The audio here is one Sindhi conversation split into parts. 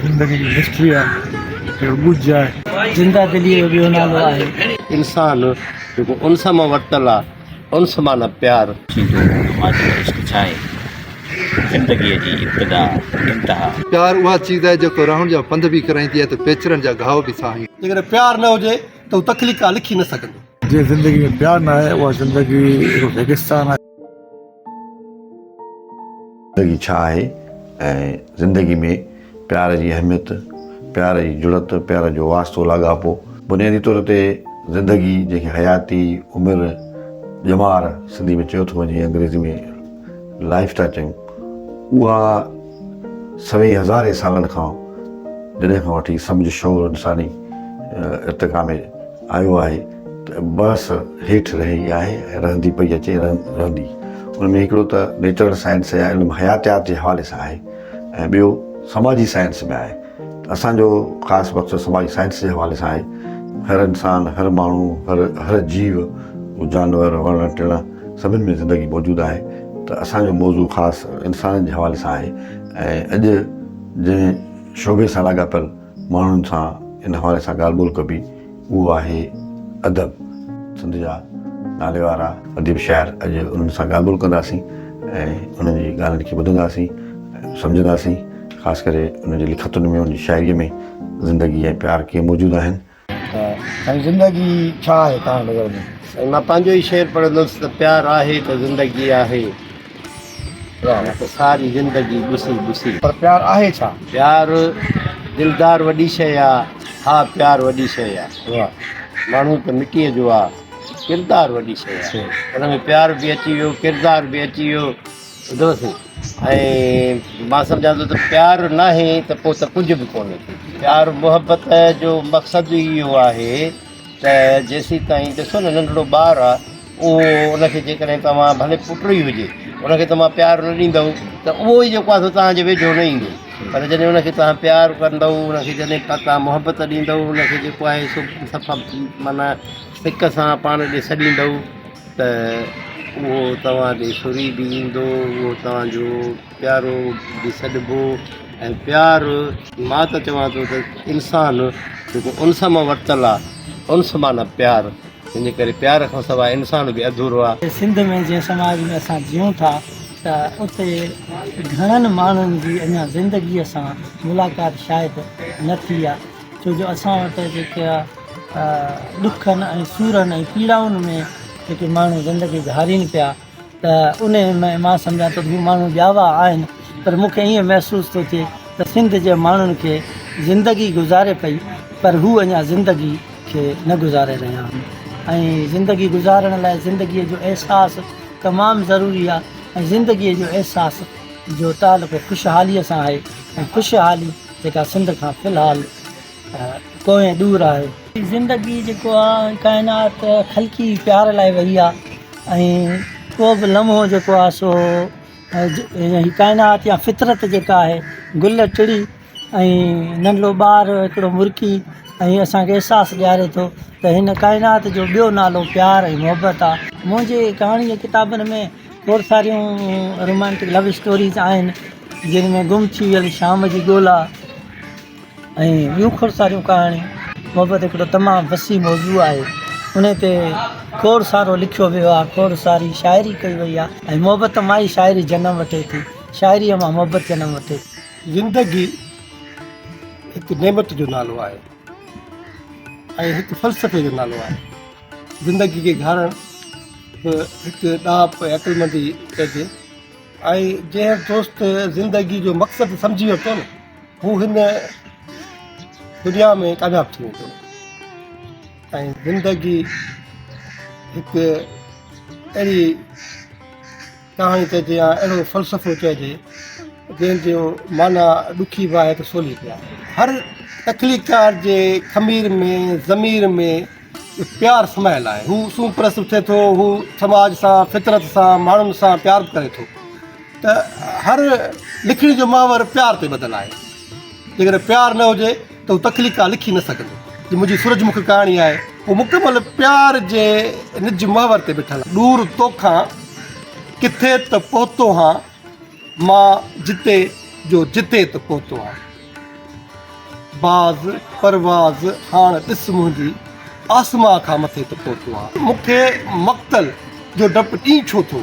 زندگي جي هسٽري آهي اهو ڳجهه آهي. زنده دليء جو ٻيو نالو آهي. انسان جيڪو انس مان ورتل آ، انس معنيٰ پيار. ٿيندو ماضيء جو عشق ڇا آهي؟ زندگيء جي ابتدا انتها. پيار اها چيز آهي جيڪو رهڻ جا پنڌ به ڪرائيندي آهي ته پيچرن جا گهاء به ساهيندي. جيڪڏهن پيار نه هجي ته هو تخليق ڪا لکي نه سگهندو. جنهن زندگي ۾ پيار نه آهي اها زندگي هڪ ريگستان آهي. زندگي ڇا آهي ۽ زندگي ۾ پيار جي اهميت، پيار جي جڙت، پيار جو واسطو لاڳاپو. بنيادي طور تي زندگي جنهن کي حياتي، عمر، ڄمار سنڌي ۾ چيو ٿو وڃي انگريزي ۾ Life ٿا چيون اها سوين هزارين سالن کان جڏهن کان وٺي سمجهه شعور انساني ارتقا ۾ آيو آهي. بحث هيٺ رهي آهي ۽ رهندي پئي اچي ۽ رهندي. ان ۾ هڪڙو ته نيچرل سائنس يا علم حياتيات جي حوالي سان آهي ۽ ٻيو سماجي سائنس ۾ آهي. ته اسان جو خاص مقصد سماجي سائنس جي حوالي سان آهي. هر انسان، هر ماڻهو، هر هر جيو، هو جانور، وڻ ٽڻ سڀني ۾ زندگي موجود آهي. ته اسان جو موضوع خاص انسانن جي حوالي سان آهي ۽ اڄ جنهن شعبي سان لاڳاپيل، ماڻهن سان ان حوالي سان ڳالهه ٻولهه ڪبي اهو آهي ادب. سنڌ جا ناليوارا اديب شاعر اڄ انهن سان ڳالهه ٻولهه ڪنداسين ۽ انهن جي ڳالهين کي ٻڌنداسين ۽ سمجهنداسين خاص ڪري انهن جي لکتن ۾ انهن جي شاعري ۾ زندگي ۽ پيار ڪيئن موجود آهن سائين زندگي ڇا آهي توهان جي نظر ۾؟ سائين مان پنهنجو ئي شعر پڙهندس ته پيار آهي ته زندگي آهي نه ته ساري زندگي ٻسي ٻسي. پر پيار آهي ڇا؟ پيار دلدار وڏي شيء آ. ها پيار وڏي شيء آ. ماڻهو ته مٽيء جو آ. ڪردار وڏي شيء آ. ان ۾ پيار به اچي ويو ڪردار به اچي ويو. ٻڌو سين ۽ مان سمجهان ٿو ته پيار ناهي ته پوء ته ڪجهه به ڪونهي. پيار محبت جو مقصد ئي اهو آهي ته جيسيتائين ڏسو نه ننڍڙو ٻار آهي اهو ان کي جيڪڏهن توهان ڀلي پٽ ئي هجي ان کي توهان پيار نه ڏيندؤ ته اهو ئي جيڪو آهي سو توهان جي ويجهو نه ايندو پر جڏهن ان کي توهان پيار ڪندؤ ان کي جڏهن توهان محبت ڏيندؤ ان کي جيڪو آهي سو سفا معنيٰ سڪ سان پاڻ ڏي سڏيندؤ ته اهو توهان ڏي سري به ايندو، اهو توهان جو پيارو به سڏبو ۽ پيار مان ته چوان ٿو ته انسان جيڪو انس مان ورتل آ، انس معنيٰ پيار، تنهن جي ڪري پيار کان سواء انسان به اڌورو آ. سنڌ ۾ جنهن سماج ۾ اسان جيئون ٿا ته اتي گهڻن ماڻهن جي اڃا زندگيء سان ملاقات شايد نه ٿي آ. ڇو جو اسان وٽ جيڪي آ ڏکن ۽ سورن ۽ پيڙائن ۾ جيڪي ماڻهو زندگي گهارين پيا ته ان ۾ مان سمجهان ٿو هي ماڻهو ڄاوا آهن پر مون کي ائين محسوس ٿو ٿئي ته سنڌ جي ماڻهن کي زندگي گذاري پئي پر هو اڃا زندگي کي نه گذاري رهيا آهن ۽ زندگي گذارڻ لاء زندگي جو احساس تمام ضروري آ ۽ زندگي جو احساس جو تعلق خوشحالي سان آهي ۽ خوشحالي جيڪا سنڌ کان في الحال ڪو ۽ ڏور آهي. زندگي جيڪو آ ڪائنات خلقي پيار لاء وئي آ ۽ ڪو به لمحو جيڪو آ سو هي ڪائنات يا فطرت جيڪا آهي گل ٽڙي ۽ ننڍڙو ٻار هڪڙو مرڪي ۽ اسان کي احساس ڏياري ٿو ته هن ڪائنات جو ٻيو نالو پيار ۽ محبت آ. منهنجي ڪهاڻي جي ڪتابن ۾ کوڙ ساريون رومانٽڪ لو اسٽوريز آهن جن ۾ گم ٿي ويل شام جي ڳولا ۽ ٻيون کوڙ ساريون ڪهاڻيون محبت هڪڙو تمام وسيع موضوع آهي ان تي کوڙ سارو لکيو ويو آهي کوڙ ساري شاعري ڪئي وئي آهي ۽ محبت مان ئي شاعري جنم وٺي ٿي شاعري مان محبت جنم وٺي ٿي زندگي هڪ نعمت جو نالو آهي ۽ هڪ فلسفي جو نالو آهي زندگي کي گهارڻ به هڪ ڏاهپ ۽ عقلمندي چئجي ۽ جنهن دوست زندگي جو مقصد سمجهي ورتو نه هو هن دنيا ۾ ڪامياب ٿي ويندو ۽ زندگي هڪ اهڙي ڪهاڻي چئجي يا اهڙو فلسفو چئجي جنهن جو معنيٰ ڏکي به آهي ته سولي به آهي هر تخليقڪار جي خمير ۾ ضمير ۾ پيار سمايل آهي هو سون پرست اٿي ٿو هو سماج سان فطرت سان ماڻهن سان پيار به ڪري ٿو ته هر لکڻي جو محور پيار تي ٻڌل آهي جيڪڏهن پيار نه هجي ته هو تخليق ڪا لکي نه سگهندو. جي منهنجي سورج مک ڪهاڻي آهي، اهو مڪمل پيار جي نج محور تي بيٺل آهي. ڏور توکان ڪٿي ته پهتو هان، مان جتي جو جتي ته پهتو هان. باز پرواز هاڻ ڏس منهنجي، آسمان کان مٿي ته پهتو هان. مون کي مقتل جو ڊپ ڏينهن ڇو ٿو،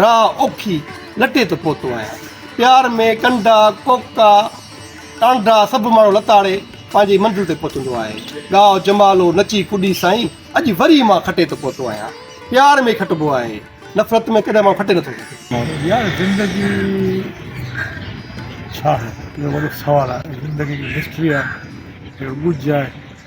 راهه اوکي لٽي ته پهتو آهيان. پيار ۾ ڪنڊا ڪوڪا. ٽانڊا سڀ ماڻهو لتاڙي پنهنجي منزل تي پهتندو آهي. ڳاء جمالو نچي ڪڏي سائين اڄ وري مان کٽي تي پهتو آهيان. پيار ۾ ئي کٽبو آهي. نفرت ۾ ڪڏهن ماڻهو کٽي نٿو سگهي. يار زندگي ڇا آهي اهو وڏو سوال آهي زندگي ڪي مسٽري آهي ڪي ڳجهه آهي.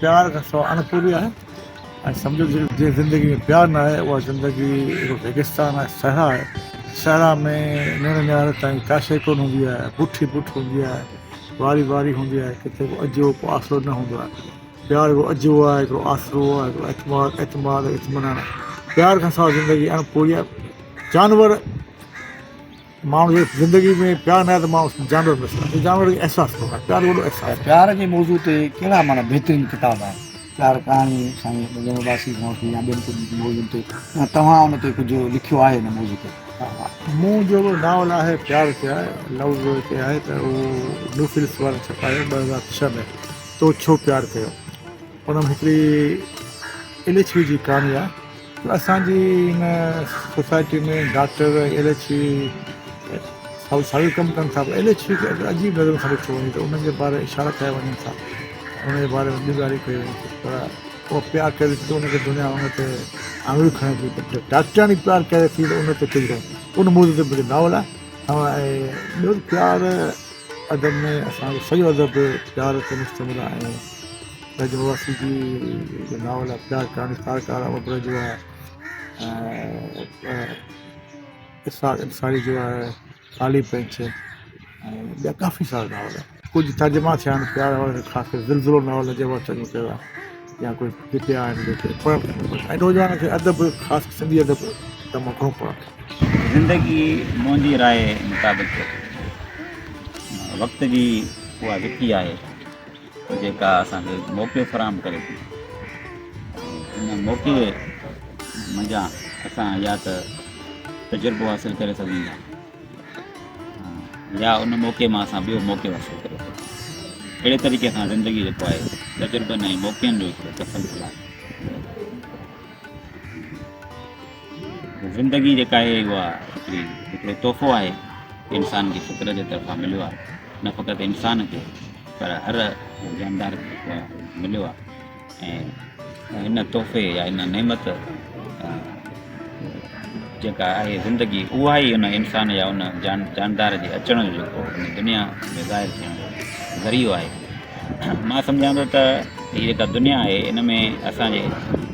پيار کان سواء اڻپوري آهي ۽ سمجهو ته جنهن زندگي ۾ پيار نه آهي اها زندگي هڪ ريگستان آهي صحرا آهي صحرا ۾ نيڻ نهار تائين ڪا شيء ڪونه هوندي آهي بٺ ئي بٺ هوندي آهي واري واري هوندي آهي ڪٿي ڪو اجهو ڪو آسرو نه هوندو آهي پيار هڪڙو اجهو آهي هڪڙو آسرو آهي هڪڙو اعتماد اعتماد اطمينان پيار کان سواء زندگي اڻپوري آهي جانور ماڻهو جي زندگي ۾ پيار نه آهي ته ماڻهو جانور به سمجهي جانور جي احساس ٿو ڪري پيار وڏو احساس آهي پيار جي موضوع تي ڪهڙا معنيٰ بهترين ڪتاب آهن پيار ڪهاڻي سائين ٻڌڻ واسي کان وٺي يا ٻين ڪجهه موضوعن تي يا توهان ان تي ڪجهه لکيو آهي ان موضوع تي مون جو ناول آهي پيار ڪيا لفظ تي آهي ته اهو نيو فلپس وارن ڇپايو ٻه هزار ڇهه ۾ تو ڇو پيار ڪيو انهن ۾ هڪڙي ايل ايڇ وي جي ڪهاڻي آهي ته اسان جي هن society ۾ doctor L H V سائو سائو ڪم ڪن ٿا ايل ايڇ وي کي اگر عجيب نظر سان ڏٺو وڃي ته انهن جي باري اشارا ڪيا وڃن ٿا انهن جي باري ۾ ٻيون ڳالهيون ڪيون وڃن ٿيون پر اهو پيار ڪري ٿي ته ان کي دنيا ان تي آڱريون کڻي ٿي پر ڊاڪٽرياڻي پيار ڪري ٿي ته ان تي ڪجهه ڪونهي ان موضوع تي مجھو ناول آهي ۽ ٻيو پيار ادب ۾ اسان جو سڄو ادب پيار تي مشتمل آهي برج واسي جي ناول اخبار ڪهاڻي ڪار ڪار امر برج جو آهي ۽ اسحاق انصاري جو آهي ڪالي پنڇ ۽ ٻيا ڪافي سارا ناول ڪجهه ترجما ٿيا آهن پيار وارن جو خاص ڪري زلزلو ناول اجي وڻ چڱو ڪيو آهي يا ڪجهه جيڪي آهن جيڪي پڙهڻ کپن بس ۽ نوجوانن کي ادب خاص سنڌي ادب تمام گهڻو پڙهڻ کپي زندگي منهنجي راء مطابق وقت جي اها وڪي آهي جيڪا اسان کي موقعو فراهم ڪري ٿي ۽ ان موقعي منجهان اسان يا ته تجربو حاصل ڪري سگهون ٿا يا ان موقعي مان اسان ٻيو موقعو حاصل ڪري سگهون اهڙي طريقي سان زندگي جيڪو آهي تجربن ۽ موقعن جو هڪڙو تسلسل آهي زندگي جيڪا آهي اها هڪڙي هڪڙو تحفو آهي انسان کي فطرت جي طرفان مليو آهي نه فقط انسان کي پر هر جاندار کي مليو آهي ۽ هن تحفي يا هن نعمت جيڪا آهي زندگي اها ئي ان انسان يا ان جان جاندار جي اچڻ جو جيڪو دنيا ۾ ظاهر ٿيڻ جو ذريعو آهي مان سمجهان ٿو ته هي جيڪا دنيا آهي ان ۾ اسان جي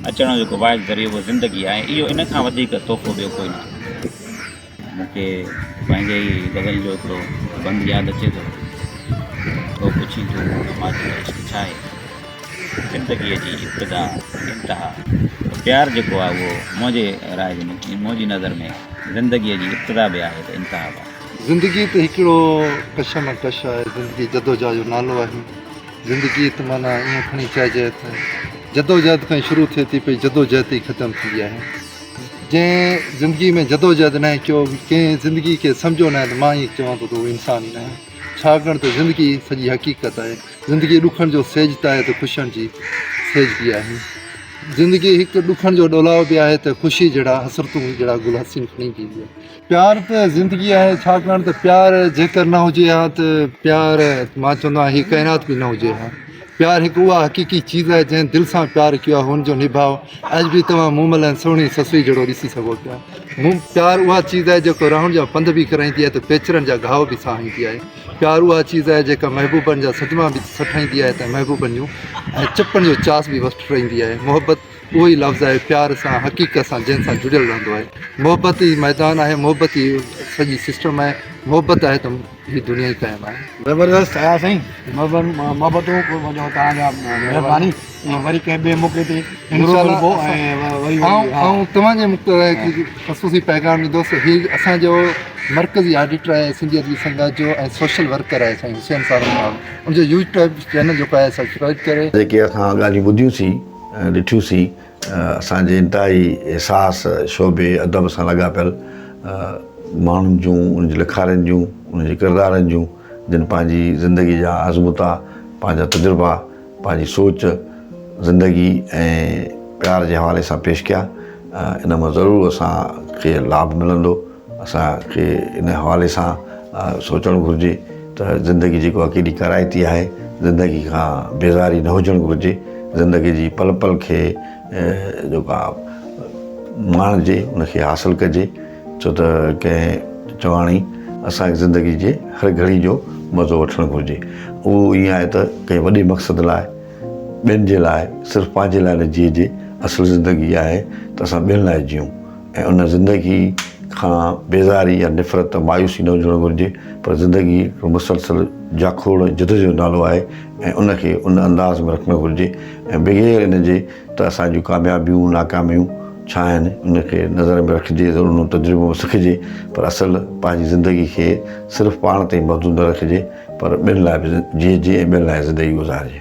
اچڻ جو جيڪو واحد ذريعو اهو زندگي آهي اهو ان کان وڌيڪ تحفو ٻيو ڪوئي نه آهي مون کي پنهنجي ئي غزل جو هڪڙو بند ياد اچي ٿو تو پڇين ٿو ته ماء تنهنجو عشق ڇا آهي زندگيء جي ابتدا انتها ته پيار جيڪو آهي اهو منهنجي راء جي منهنجي نظر ۾ زندگيء جي ابتدا به آهي ته انتها به آهي زندگي ته هڪڙو ڪشمڪش آهي، زندگي جدوجهد جو نالو آهي، زندگي ته معنيٰ ائين کڻي چئجي ته جدوجهد کان ئي شروع ٿئي ٿي پئي جدوجهد تي ئي ختم ٿيندي آهي، جنهن زندگي ۾ جدوجهد ناهي ڪيو، ڪنهن زندگي کي سمجهيو ناهي ته مان ائين چوان ٿو ته هو انسان ئي ناهي، ڇاڪاڻ ته زندگي سڄي حقيقت آهي، زندگي ڏکن جو سيج ته آهي ته خوشين جي سيج به آهي، زندگي هڪ ڏکن جو ڏولاء به آهي ته خوشي جهڙا حسرتون جهڙا گل حسين کڻي به ايندي آهي. پيار ته زندگي آهي ڇاڪاڻ ته پيار جيڪر نه هجي ها ته پيار مان چوندو آهيان هي ڪائنات به نه هجي ها پيار هڪ اها حقيقي چيز آهي جنهن دل سان پيار ڪيو آهي هن جو نڀاء اڄ به توهان مومل ۽ سهڻي سسئي جهڙو ڏسي سگهو پيا مون پيار اها چيز آهي جيڪو راهن جا پنڌ به ڪرائيندي آهي ته پيچرن جا گهاء به ساهيندي آهي پيار اها چيز آهي جيڪا محبوبن جا صدما به سٺائيندي آهي ته محبوبن جون ۽ چپن جو چاس به وسٽرائيندي آهي محبت اهو ئي لفظ آهي پيار سان حقيقت سان جنهن سان جڙيل رهندو آهي محبت ئي ميدان آهي محبت ئي سڄي سسٽم آهي محبت آهي ته هي دنيا ئي قائم آهي. زبردست آيا سائين محبتون جو توهان جا مهرباني وري ڪنهن ٻئي موقعي تي انشاء الله آئون توهان جي مختلف آهي ڪي خصوصي پيغام ڏيندوس هي اسان جو مرڪزي آڊيٽر آهي سنڌي ادبي سنگت جو ۽ سوشل ورڪر آهي سائين حسين سارنگ صاحب ان جو يوٽيوب چينل جيڪو آهي سبسڪرائيب ڪري جيڪي اسان ڳالهيون ٻڌيون سين. ڏٺيوسين اسان جي انتهائي حساس شعبي ادب سان لاڳاپيل ماڻهن جون ان جي لکارين جون ان جي ڪردارن جون جن پنهنجي زندگي جا آزمودا پنهنجا تجربا پنهنجي سوچ زندگي ۽ پيار جي حوالي سان پيش ڪيا ان مان ضرور اسان کي لاڀ ملندو اسان کي ان حوالي سان سوچڻ گهرجي ته زندگي جيڪو آهي ڪيڏي ڪارائتي آهي زندگي کان بيزاري نه هجڻ گهرجي زندگي جي پل پل کي جيڪو آهي ماڻجي ان کي حاصل ڪجي ڇو ته ڪنهن چيو آهي اسانکي زندگي جي هر گهڙي جو مزو وٺڻ گهرجي اهو ائين آهي ته ڪنهن وڏي مقصد لاء ٻين جي لاء صرف پنهنجي لاء نه جيئجي اصل زندگي آهي ته اسان ٻين لاء جيئون ۽ ان زندگي کان بيزاري يا نفرت ۽ مايوسي نه هجڻ گهرجي پر زندگي هڪ مسلسل جاکوڙ ۽ جد جو نالو آهي ۽ ان کي ان انداز ۾ رکڻ گهرجي ۽ بغير ان جي ته اسان جون ڪاميابيون ناڪاميون ڇا آهن ان کي نظر ۾ رکجي ضرورون تجربو به سکجي پر اصل پنهنجي زندگي کي صرف پاڻ تائين محدود نه رکجي پر ٻين لاء به جيئجي ۽ ٻين لاء زندگي گذارجي.